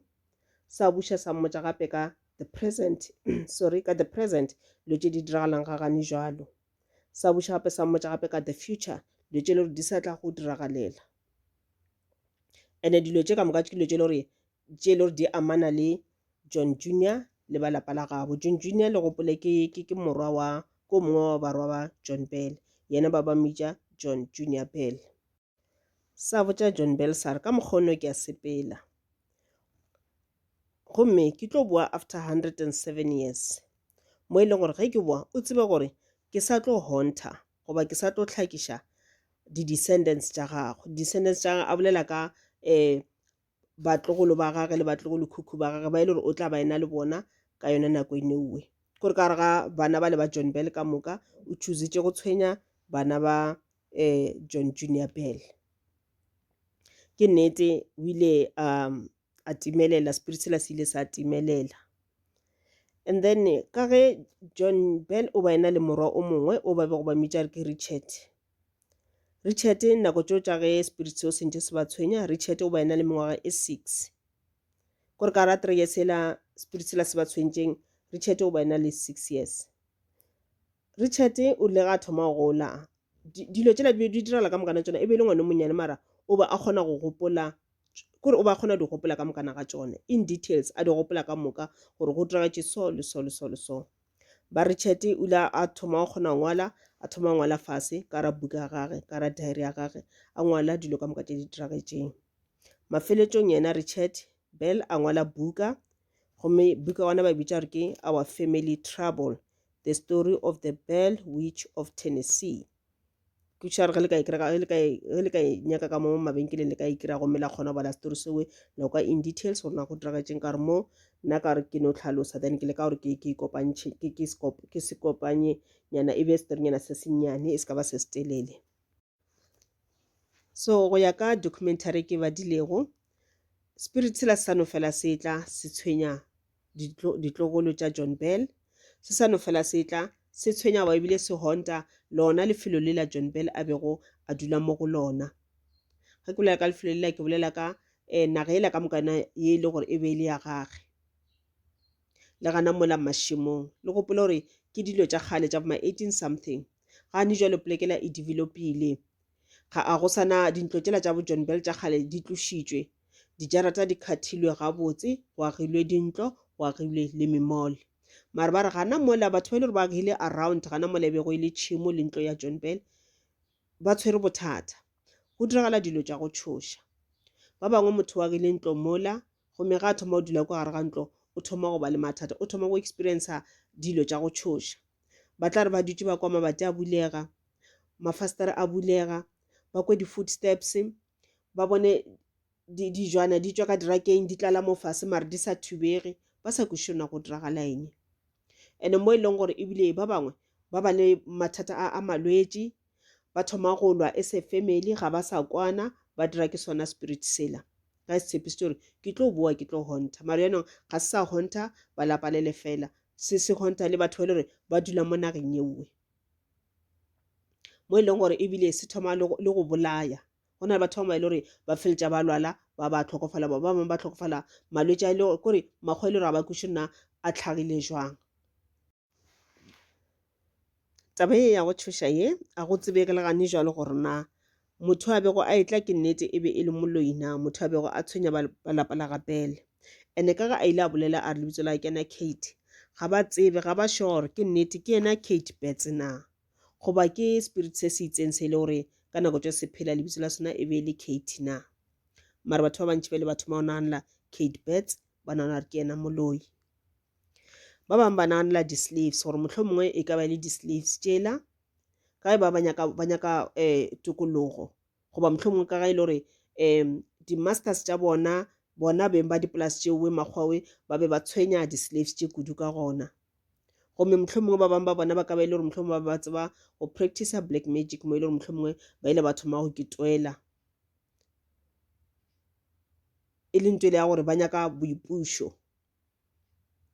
Sa buša sa mmotša gape ka the present, sorry, ka the present, dilo tše di diragalang ga gane jwalo. Sa buša gape sa mmotša gape ka the future, dilo tše e le gore di sa tla go diragalela. And-e dilo tše ka moka ke dilo tše e le gore tše e le gore di amana le John Junior le ba lapa la gabo. John Junior le gopole ke, ke, ke morwa wa, ke o mongwe wa barwa ba John Bell, yena ba ba mmitša John Junior Bell. Sa botša John Bell sa re, Ka mokgwa o no ke a sepela, gomme ke tlo boa after hundred and seven years, mo e leng gore ge ke boa o tsebe gore ke sa tlo haunter goba ke sa tlo hlakiša di-descendants tša gago. Di-descendants tša gagwe a bolela ka um batlogolo ba gage le batlogolokhukhu ba gage ba e le gore o tla ba ena le bona ka yona nako e neuwe kore ka gore ga bana ba le ba john bell ka moka o chusitše go tshwenya bana ba um john junior bell ke nnete o ile um a timelela spirit sela se ile sa timelela and then ka ge john bell o ba ena le morwa o mongwe o ba be go ba mmitša re ke richard Richard nako tšeo tša ge spirit seo se ntše se ba tshwenya Richard o ba ena le mengwaga e six kore ka ra three years ela spirit sela se ba tshwentšeng Richard o ba ena le six years Richard o ile ga thoma go gola dilo tšela di be di direla ka mokana tsona e be e le ngwana monnyane mara o ba a kgona go gopola kore o ba kgona di gopola ka mokana ga tsone in details a di gopola ka moka gore go diragetse so le so le so le so Ba re Chet o ile a thoma go kgona ngwala a thoma ngwala fase ka ra buka ya gage ka ra diary ya gage a ngwala dilo ka moka tše di diragetseng mafeletšong yena richard bell a ngwala buka gomme buka wana ba bitša gore ke our family trouble the story of the bell witch of tennessee ke tšhware ge le ka e kry-a ge le ka e ge le ka e nyaka ka mo mabenkeleng le ka e kry-a gomme la kgona go bala story sewe la kwa in details gore na go diragetseng ka re mo nna ka re ke no tlhalosa then ke le ka gore ke ke kopantšhe ke ke sekop- ke se kopanye nyana e be storynyana se sennyane e se ka ba se se telele so go ya ka documentary e ke e badilego spirit sela se sa no fela se tla se tshwenya ditlo, ditlogolo tša John Bell, se sa no fela se tla, se tshwenyawa ebile se honta lona lefelo lela John Bell a bego a dula mo go lona. Ge ke bolela ka lefelo lela, ke bolela ka eh, naga yela ka moka yona ye e le gore e be e le ya gage le gana mola mašemong le gopole gore ke dilo tša kgale tša boma 18 something gane jwale polekela e developile Ga a go sana dintlo tšela tša bo John Bell tša kgale di tlošitšwe. Dijarata di khathilwe gabotse, go agilwe dintlo, go agilwe le memall. Mare ba re gana mola batho ba ile gore ba agile around gana mola e bego e le tšhimo le ntlo ya John Bell ba tshwere bothata. Go diragala dilo tša go tšhoša. Ba bangwe motho wa agile ntlo mola gomme ga a thoma go dula kwa gare ga ntlo o thoma go ba le mathata o thoma go experiencer dilo tša go tšhoša. Ba tla re ba dutše ba kwa mabati a bulega mafastere a bulega, ba kwe di-footsteps, ba bone dijwana di tšwa ka dirakeng di tlala mo fase mare di sa thubege ba sa kwešiše na go diragala eng. And-e mo e leng gore ebile ba bangwe ba ba le mathata a malwetši, ba thoma go lwa as a family ga ba sa kwana ba dira ke sona spirit sela. Ga se tshepišitše gore ke tlo bowa ke tlo honta mare yanong ga se sa honta ba lapa le le fela, se se honta le batho ba e le gore ba dula mo nageng ye nngwe. mo e leng gore ebile se thoma le go- le go bolaya go na le batho ba bangwe ba e le gore ba feletša ba lwala ba ba tlhokofala ba ba bangwe ba tlhokofala malwetši a e le gore kore makgwa e le gore ga ba kweše nna a tlhagile jwang taba ye ya go tšhoša ye a go tsebege le gane jwalo gore na Motho a bego a etla ke nnete e be e le Moloina, motho a bego a tshwenya ba lapa la ga Pele. Ene ka ga a ile a bolela a re lebitso la ke na Kate. Ga ba tsebe, ga ba sure ke nnete ke yena Kate Bets na. Goba ke spirit se se itseng se e le gore ka nako tšo se phela lebitso la sona e be e le Kate na. Mara batho ba bantši ba le batho ba naganela Kate Bets ba nagana gore ke yena moloi. Ba bangwe ba naganela di-slaves gore mohlomongwe e ka ba e le di-slaves tšela ka ge ba ba nyaka ba nyaka um tokologo goba mohlomongwe ka ga e le gore um di-masters tša bona bona beng ba dipolase tšeoe makgwawe ba be ba tshwenya di-slaves tše kudu ka gona gomme mohlomongwe ba bangwe ba bona ba ka ba e le gore mohlomongwe ba be ba tseba go practicer black magic mo e le gore mohlomongwe ba ile ba thoma go ketwela e leng tsele ya gore ba nyaka boipušo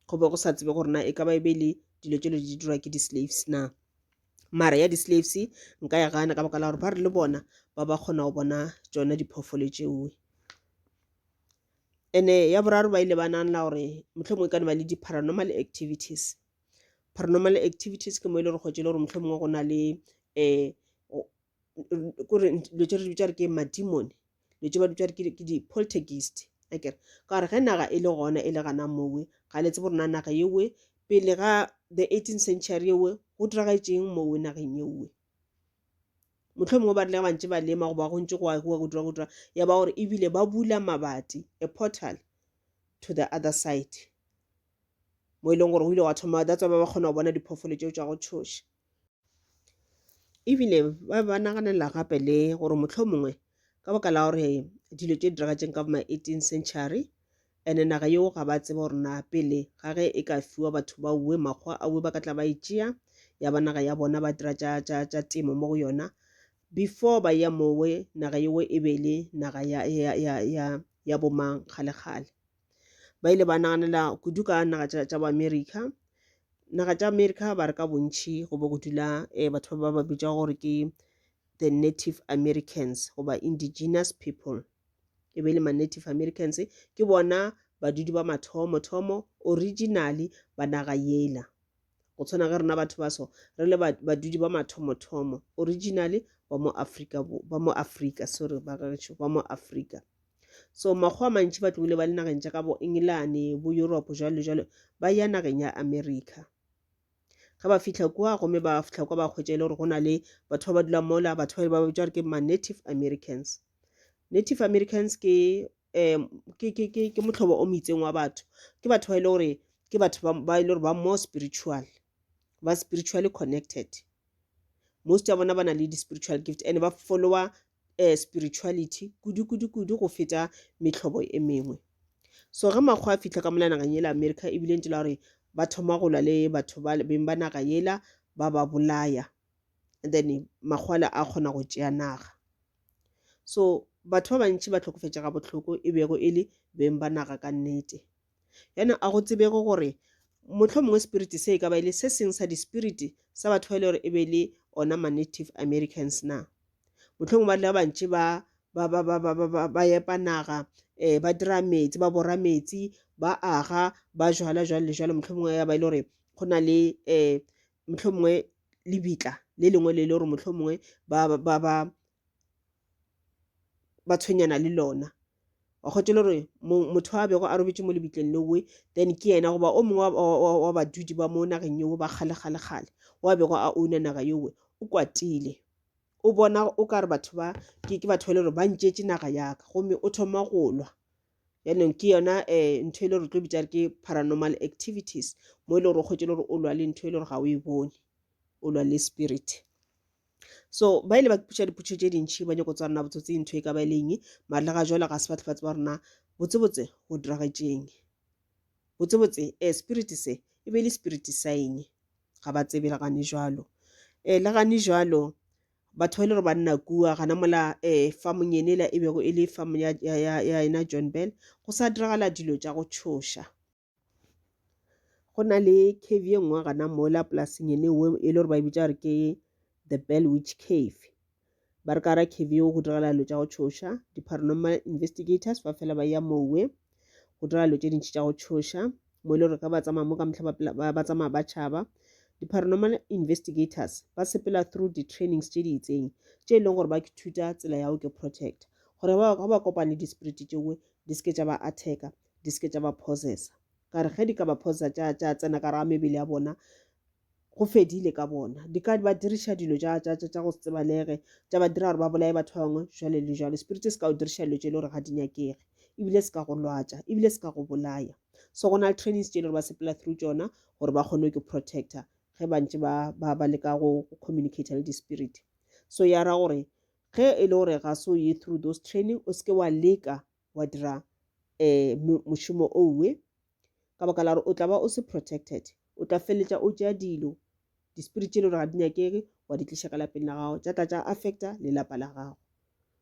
go be go sa tsebe gore na e ka ba e be le dilo tšelo di dirwa ke di-slaves na mara ya di-slaves nka ya gana ka baka la gore ba re le bona ba ba kgona go bona tsona diphoofolo tšeo ene ya boraro ba ile ba nanla gore mohlomongwe e ka ne ba le di-paranormal activities paranormal activities ke mo e le gore kgwetse e le gore mohlomongwe go na le um kore dilo tse re di bitša re ke madimone dilo tse ba dutša ke di-poltergeist akere ka gore ge naga e le gona e le gana mowe ga le tsebo rona naga yewe pele ga the eighteen century yewe go diragaetseng mowe nageng yewe motlho mongwe ba rile bantse ba lema goba go ntse go agiwa go dira go dira ya ba gore ebile ba bula mabati a portal to the other side mo e leng gore o ile wa thoma that's ba ba kgona go bona diphoofolo tseo tsa go tshoša E bile ba be ba naganela gape le gore mohlomongwe ka baka la gore dilo tše diragatšeng ka bo ma-18 century ene naga yeo ga ba tsebe gore na pele ga ge e ka fiwa batho ba uwe makgwa a uwe ba ka tla ba e tšea ya ba naga ya bona ba dira tša tša tša temo mo go yona before ba ya mowe naga yeo e be le naga ya ya ya ya ya bomang kgale kgale ba ile ba naganela kudu ka naga tša tša boamerica naga tša america ba re ka bontšhi go be go dula um batho ba ba bitša gore ke the native americans goba indigenous people e be e le ma-native americans ke bona badudi ba mathomo thomo originally ba naga yela go tshwana ge rona batho ba so re le badudi ba mathomo thomo originally ba mo afrika ba mo afrika sorry ba gešo ba mo afrika so makgowa a mantši ba tlogile ba le nageng tša ka bo engelane bo europe jalo le jalo ba ya nageng ya america ge ba fitlha kua gomme ba fitlha kwa ba kgwetša e le gore go na le batho ba ba dula mola batho ba ba bitša gore ke ma-native americans native americans ke um ke ke ke ke motlhobo o moitseng wa batho ke batho ba e le gore ke batho ba e le gore ba more spiritual ba spiritually connected most ya bona ba na le di-spiritual gift and ba follower eh, spirituality kudu-kudu-kudu go feta mehlobo e mengwe so ge makgwa a fitlha ka mola nageng yela america e bile ntse la gore ba thoma go lwa le batho ba beng ba naga yela ba ba bolaya and then makgwala a kgona go tšea naga so batho ba bantši ba tlhokofetšega bohloko e bego e le beng ba naga ka nnete Yana a go tsebego gore mohlomongwe spirit se e ka ba e le se seng sa di-spirit sa batho ba e le gore e be le ona ma-native Americans na? Mohlomongwe ba dula bantši ba ba ba ba ba ba ba ba epa naga um ba dira metsi ba bora metsi ba aga ba jala jwalo le jwalo mohlomongwe ya ba e le gore go na le um mohlomongwe lebitla le lengwe le le gore mohlomongwe ba ba ba ba ba tshwenyana le lona wa kgotse le gore motho a bego a robetše mo lebitleng lewe then ke yena goba o mongwe wa badudi ba mo nageng yewe ba kgale kgale kgale wa bego a ouna naga yewe o kwatile o bona o ka re batho ba ke ke batho ba le gore ba ntšetše naga yaka gomme o thoma go lwa yaanong ke yona um ntho e le gore tlo bitsa re ke paranormal activities mo e le gore o kgwetse le gore o lwa le ntho e le gore ga o e bone o lwa le spirit so ba ile ba kipotša dipotšišo tše dintšhi ba nyako tswa rena botsotseng ntho e ka ba e leng maatla ga jalo ga se batho ba tseba rena botsebotse go diragetšeng botsebotse um spirit se e be e le spirit sa eng ga ba tsebe le gane jalo um le gane jalo batho ba ile gore ba nna kua gana mola um famong yene la e bego e le famo ya ena john bell go sa diragala dilo tša go tšhoša go na le cave ye nngwe gana mola polasing ene we e le gore ba e bitša gore ke the bell witch cave ba re ka ra cave yeo go diragala dilo tša go tšhoša di-paranormal investigators ba fela ba ya mowe go dira dilo tše dintšhi tša go tšhoša mo e le gore ka ba tsamaya mo ka motlha ba tsamaya ba tšhaba di-paranormal investigators ba sepela through di-trainings tše di itseng tše e leng gore ba thuta tsela ya go ke protect gore ba ba kopane di-spirit tšewe di seke tša ba attacka di se ke tša ba possessa ka re ge di ka ba possessa tša tša tsena ka re a mebele ya bona go fedile ka bona di ka ba diriša dilo tša tša tša tša go se tsebalege tša ba dira gore ba bolaye batho ba bangwe jwale le jwalo spirit se ka o diriša dilo tše e le gore ga di nyakege ebile se ka go lwatša ebile se ka go bolaya so go na le trainings tše e le gore ba sepela through tšona gore ba kgone ke protector ge ba ntse ba ba ba leka go communicate le di-spirit so ya ra gore ge e le gore ga se o ye through those training o seke wa leka wa dira um mošomo owe ka baka la gore o tla ba o se protected o tla feleletša o tšea dilo di-spirit tše e le gore ga di nyakege wa di tliša ka lapeng la gago tša tla tša affecta lelapa la gago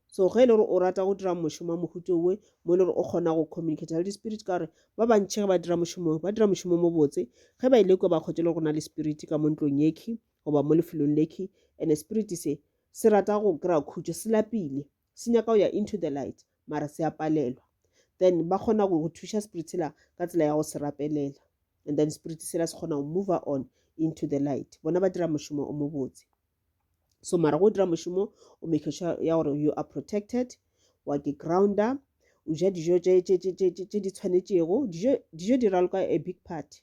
so ge e le gore o rata go dira mošomo wa mohuto owe mo e le gore o kgona go communicate le di-spirit ka gore ba bantšhi ge ba dira mošomo ba dira mošomo mo botse ge ba ile e kwa ba kgwetše le go na le spirit ka mo ntlong yekhi goba mo lefelong lekhi and spirit se se rata go kry-a khutšo se lapile se nyaka go ya into the light mara se a palelwa then ba kgona go go thuša spirit sela ka tsela ya go se rapelela and then spirit sela se kgona go move on into the light bona ba dira mošomo o mobotse so mara go dira mošomo o make sure ya gore you are protected wa ke grounder o ja dijo tse di tshwanetšego dijo di raloka a big party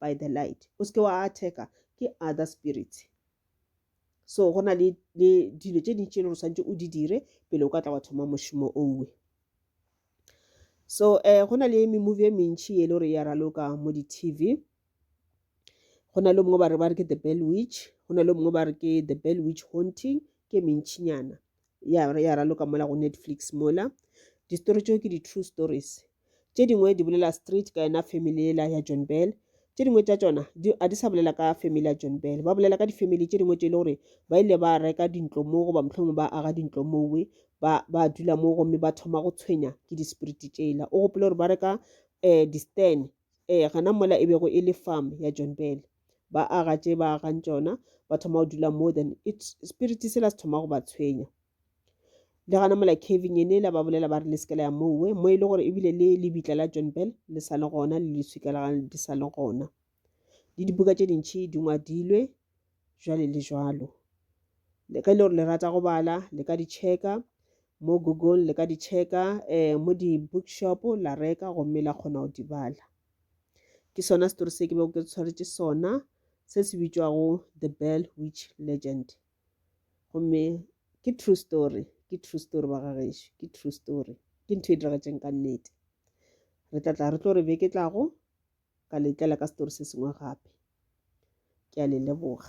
by the light o seke wa attack-a ke other spirits so go na le dilo tše dintši e le gore swanetse o di dire pele o ka tla wa thoma mošomo owe so um go na le memovie e mentšhi e le gore ya raloka mo di-tv go na le mongwe ba re ba re ke the bell witch go na le mongwe ba re ke the bell witch haunting ke mentšhinyana ya, ya raloka mola go netflix mola distory tšeo ke di-true stories tše dingwe di bolela street ka yena family ela ya john bell tše dingwe tša tšona a di sa bolela ka family ya john bell ba bolela ka di-family tše dingwe tše e le gore ba ile ba reka dintlo moo goba mohlomongwe ba aga dintlo mowe ba, ba dula moo gomme ba thoma go tshwenya ke di-spirit tšela o gopole gore ba reka um eh, di-stan um eh, gana mola e bego e le farm ya john bell ba aga tše ba agang tšona ba thoma go dula more than it spirit se la se thoma go ba tshwenya le gana mola caving ene la ba bolela ba re le sekela ya mowe mo e le gore ebile le lebitla la john bell le sa le gona le leswika la gane di sa le gona le dibuka tše dintšhi di ngwadilwe jwale le jwalo le ka e le gore le rata go bala le ka di checka mo google le ka di checka um mo di-bookshop la reka gomme la kgona go di bala ke sona story se ke bego ke tshwaretše sona se se bitšwago the bell witch legend gomme ke true story ke true story ba ga gešo ke true story ke ntho e diragetseng ka nnete re tla tla re tlo re beke tlago ka letlela ka story se sengwe gape ke a le leboga